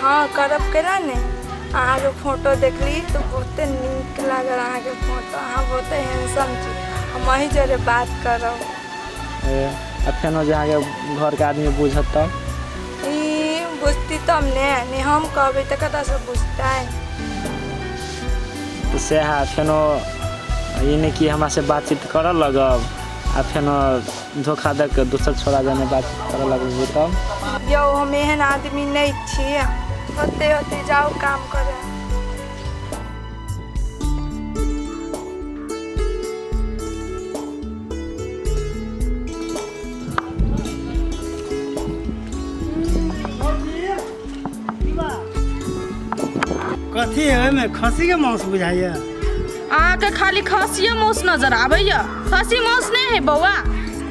हँ करब केना ने अहाँके फोटो देखली तऽ बहुते नीक लागल अहाँके फोटो अहाँ बहुते हैंडसम छी हम अही जरे बात करब ए, आ फेनो जे अहाँके घरके आदमी बुझत तब ई बुझती तब ने ने हम कहबै तऽ कतऽसँ बुझतै तऽ सएह फेनो ई नहि कि हमरासँ बातचीत करऽ लगब आ फेनो धोखा दऽ कऽ दोसर छोड़ा जाने बात करऽ लगबै तब यौ हम एहन आदमी नहि छी होते होते जाओ काम करे कथी है ओहिमे खस्सी के मांस बुझाइए अहाँके खाली खसिए मांस नजर आबैया खसी मांस नहीं है बौआ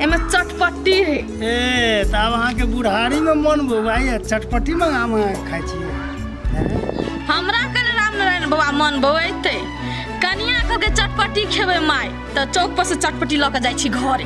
एमे चटपट्टी है ए तऽ आब अहाँके बुढ़ारी में मन बौआइए चटपटी मंगाम अहाँ खाइ छियै हैं? हमरा कने रामनारायण बाबा मन बौएते कनिया कहके चटपट्टी खेबै माय तऽ चौक पर से चटपट्टी लऽ कऽ जाइ छी घरे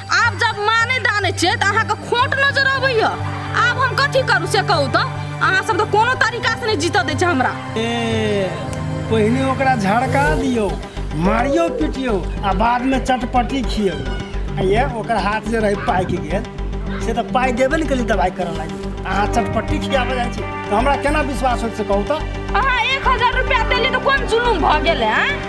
आब जब माँ नहि दानै छियै तऽ अहाँके खोट नजर अबैया आब हम कथी करू से कहू तऽ अहाँ सब तऽ कोनो तरीका से नहि जीतऽ दै छै हमरा ए पहिने ओकरा झड़का दियौ मारियो पिटियौ आ बादमे चटपटी खियौ आ ये ओकर हाथ जे रहै पाकि गेल से तऽ पाइ देबे ने केली दवाइ करऽ लागी अहाँ चटपटी खियाबऽ जाइ छी तऽ हमरा केना विश्वास होइत से कहू तऽ अहाँ एक हजार रुपया देली तऽ कोन जुलूम भऽ गेलै आँय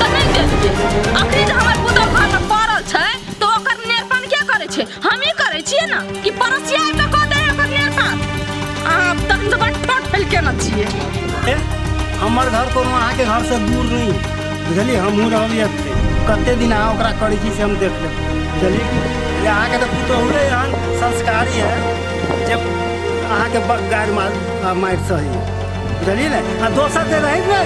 कतई गेल के अखनी जे हमर पुतल घर में पड़ल छै तो ओकर नेरपन के करे छै हम ही करे छिए ना कि पड़ोसिया आबि के कह दे ओकर नेरपन आप तक तो बट पट फैल के ना छिए ए, हमर घर कोनो अहाँके घर से दूर नहीं बुझलियै हमहूँ रहलियै एतै कते दिन अहाँ ओकरा करै छी से हम देख लेब चलिए ये अहाँके तऽ पुतहुरे एहन संस्कारी है जे अहाँके ब- गारि मार मारि सही बुझलिए ने आ दोसर जे रही ने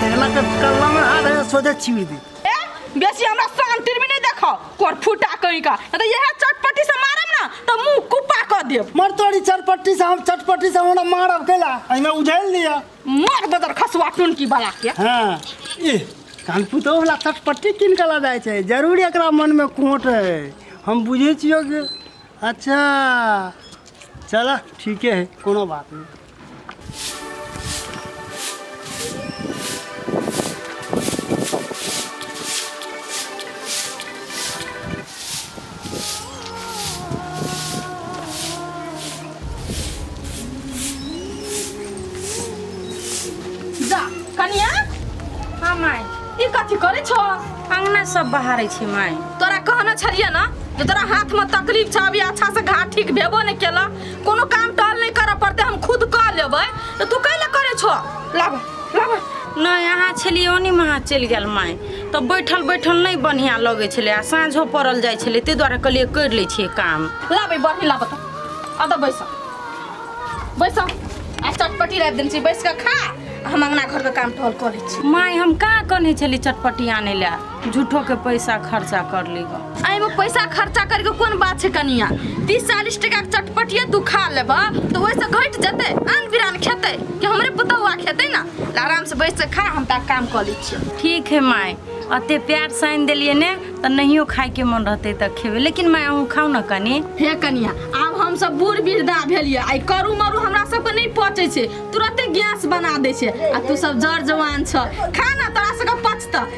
तेला के कल्ला में हाथ है सोझे चीर दे ए बेसी हमरा शांति में नहीं देखो कोर फुटा कहीं का नहीं तो यह चटपटी से मारम ना तो मुंह कुपा कर देब मर तोरी चटपट्टी से हम चटपट्टी से हमरा मारब केला एहिमे उझैल लिअ मार बदर खसवा टुन की बला के हाँ ए कान पुतो वाला चटपट्टी किन के ला जाइ छै जरूर एकरा मन में कोट है हम बुझे छियो कि अच्छा चल ठीके है कोनो बात नहीं जा कनिया हाँ माय ई कथी करे छो अंगना सब बहारे छी माय तोरा कहना छलिए ना जे तोरा हाथ में तकलीफ छ अभी अच्छा से घाट ठीक भेबो ने केला कोनो काम टहल नहीं करऽ पड़ते हम खुद कऽ लेबै तऽ तू कैले करै छो लाबा लाबा नहि अहाँ छलियै ओनी महा चलि गेल माय तऽ बैठल बैठल नहि बढ़िआँ लगै छलै आ साँझो पड़ल जाइ छलै ताहि दुआरे कहलियै करि लै छियै काम लाबै बरही लाबऽ तऽ आ तऽ बैसऽ बैसऽ आ चटपटी राखि देने छी बैस कऽ खा आ हम अङ्गना घरके काम टहल कऽ लै छी माय हम कहाँ कहने छली चटपटी आनै लए झूठो के पैसा खर्चा कर ली एहिमे पैसा खर्चा करके कोन बात छै कनिया तीस चालीस टका के चटपटिया तू खा लेब तऽ ओहिसँ घटि जेतै आन बिरान खेतै कि हमरे पुतौआ खेतै ने ले आराम से बैस के खा हम तऽ काम कऽ लै छियै ठीक है माय अते प्यार से आनि देलियै ने तऽ नहियो खाय के मन रहते तऽ खेबै लेकिन माय अहूँ खाउ ने कनी हे कनिया आब हम सब बूढ़ वृद्धा भेलियै आइ करू मरू हमरा सबके नहि पचै छै तुरते गैस बना दै छै आ तू सब जर जवान छ खा ना तोरा सबके पचतऽ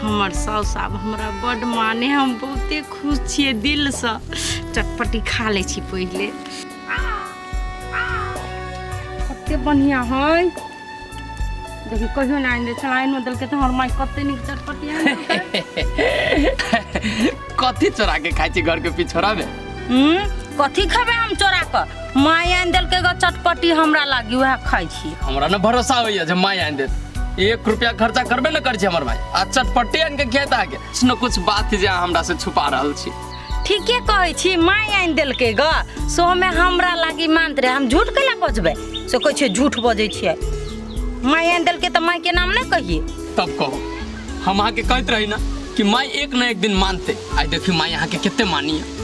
हमर साउस आब हमरा बड माने हम बहुते खुश छियै दिल से चटपटी खा ले छी पहिले कते बढ़िया है देखी कहियो ना आइन दे छलाइन में देलके तो हमर माई कते नीक चटपटी आइन देलकै। कथी चोरा के खाइ छी घर के पिछोड़ा में हूँ कथी खेबै हम चोरा कऽ माय आनि देलकै गऽ चटपटी हमरा लागी उएह खाइ छी हमरा ने भरोसा होइए जे माय आनि देत एक रुपया खर्चा करबे ने करै छी हमर माय आ चटपटी आनि के खेत आके सुनो कुछ बात जे अहाँ हमरा से छुपा रहल छी ठीके कहै छी माय आनि देलकै गऽ सोमे हमरा लागी मानत रहे हम झूठ कैला बजबै से कहै छै झूठ बजै छियै माय आनि देलकै तऽ मायके नाम नहि कहिए तब कहू हम अहाँके कहैत रही ना कि माय एक ना एक दिन मानते आई देखियो माय अहाँके कितने मानी है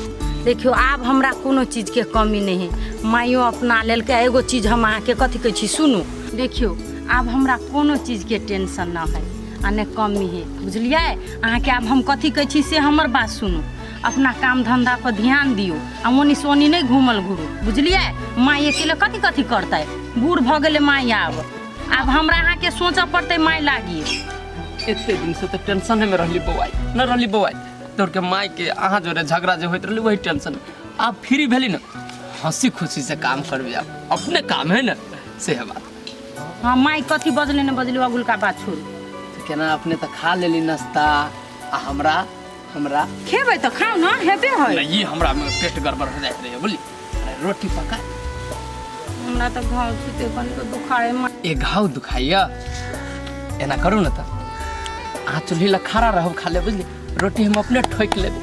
देखियो आब हमरा कोनो चीज के कमी नहीं है माइयो अपना लेल के एगो चीज हम अहाँ के कथी कहै छी सुनू देखियो आब हमरा कोनो चीज के टेंशन ना है आ ने कमी है बुझलिए अहाँ के आब हम कथी कहै छी से हमर बात सुनू अपना काम धंधा पर ध्यान दियो आ ओनी से ओनी नहीं घूमल घूरू बुझलिए माई अकेले कथी कथी करतै बूढ़ भऽ गेलै माई आब आब हमरा अहाँ के सोचऽ पड़ते माय लागी एते दिन से तो टेंशन में रहली बौआई न रहली बौआई तोर के माय के अहाँ जोरे झगड़ा जे होइत रहली वही टेंशन आप फ्री भेली ना हंसी खुशी से काम करबे आप अपने काम है ना से है बात हाँ माय कथी बजले न बजले अगुल का बात छोड़ तो केना अपने तो खा लेली नाश्ता आ हमरा हमरा खेबै तऽ खाउ ने हेबे है नहि, ई हमरा मे पेट गड़बड़ हो जाइत रहैए बुझली अरे, रोटी पका हमरा तऽ घाव छुते कनिको दुखाए मा- ए घाव दुखाइए एना करू ने तऽ अहाँ चूल्ही लग खड़ा रहब खा ले बुझली रोटी हम अपने ठोकि लेबै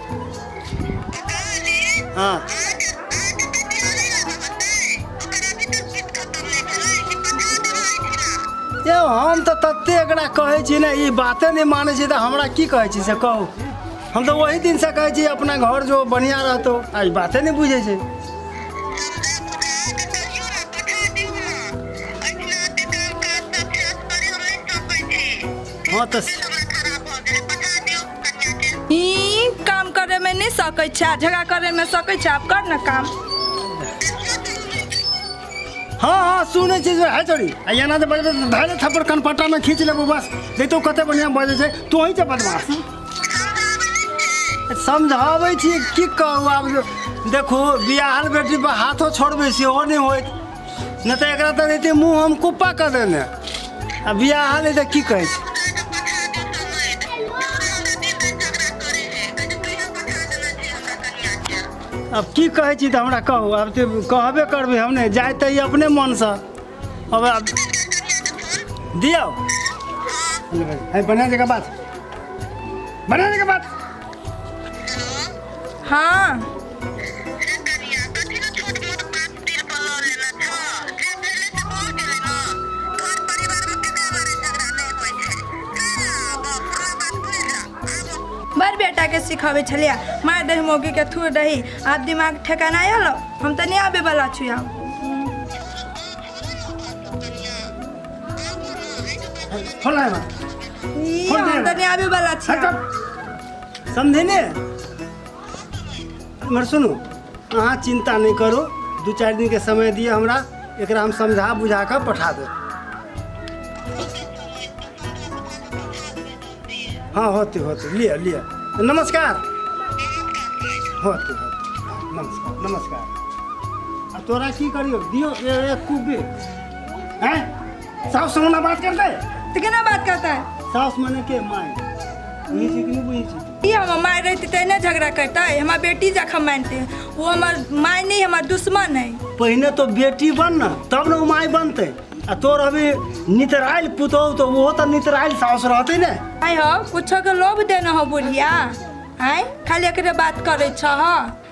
हँ यौ हम तऽ तते एकरा कहै छी ने ई बाते नहि मानै छै तऽ हमरा की कहै छी से कहू हम तऽ ओही दिनसँ कहै छी अपना घर जो बढ़िआँ रहतौ आ ई बाते नहि बुझै छै हँ तऽ ई काम करे में नहीं सकै छै आ झगड़ा करे में सकै छै आप कर ना काम हाँ हाँ सुनै छै जे है छोरी आ एना जे बजबै तऽ धैले थप्पड़ कनपट्टा में खींच लेबो बस देखतो कते बढ़िया बजै छै तू ही छै बदमाश समझाबै छी की कहू आब देखू बियाहल बेटी पर हाथो छोड़बै सेहो नहि होइत नहि तऽ एकरा तऽ रहते मुँह हम कुप्पा कऽ देने आ बियाह हाले तऽ की कहै छै अब की कहै छी तऽ हमरा कहू आब तऽ कहबे करबै हम नहि जाय तऽ ई अपने मनसँ अब आब दियौ है बढ़िया जगह बात बढ़िया जगह बात हाँ बड़ बेटाके सिखाबै छलियै मारि दही मौगीके थूर दही आब दिमाग ठेकाना आयल हम तऽ नहि आबैवला छी आब फोन लाय ई, हम तऽ नहि आबैवला छी आब। समझे ने हमर सुनू अहाँ चिन्ता नहि करू दू चारि दिनके समय दिअ हमरा एकरा हम समझा बुझा कऽ पठा देब हँ होते होते लिअ लिअ तऽ नमस्कार होते होते नमस्कार नमस्कार आ तोरा की करियो दियो ए- एक कूप दे हैं साउस से हमरा बात करते तऽ केना बात करतै साउस मने के माय बुझै छी कि नहि बुझै छी ई हमर माय रहती तऽ नहि झगड़ा करते हमर बेटी जखन मानते वो हमर माय नहीं हमर दुश्मन है पहिने तो बेटी बन ना तब ना माय बनते आ तोर अभी नितराइल पुतौ तो वो तो नितराइल सास रहते ने आय हो कुछो के लोभ देना हो बुढ़िया आय खाली एकरे बात करे छ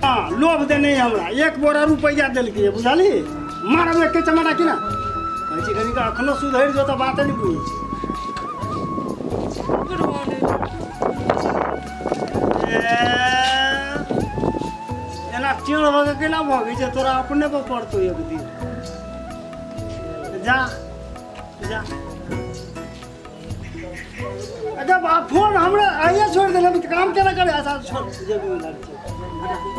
हाँ, लोभ दे नहीं हमरा एक बोरा रुपया दिल के बुझाली मारा में के चमाटा की ना कहे छी कनी का अखनो सुधर जो तो बात नहीं बुझी एना टेढ़ भऽ के केना भऽ गई छै तोरा अपने पर पड़तो एक दिन जा जा जब फोन हमरा आइए छोड़ि देलक तऽ काम केना करबै छोड़ि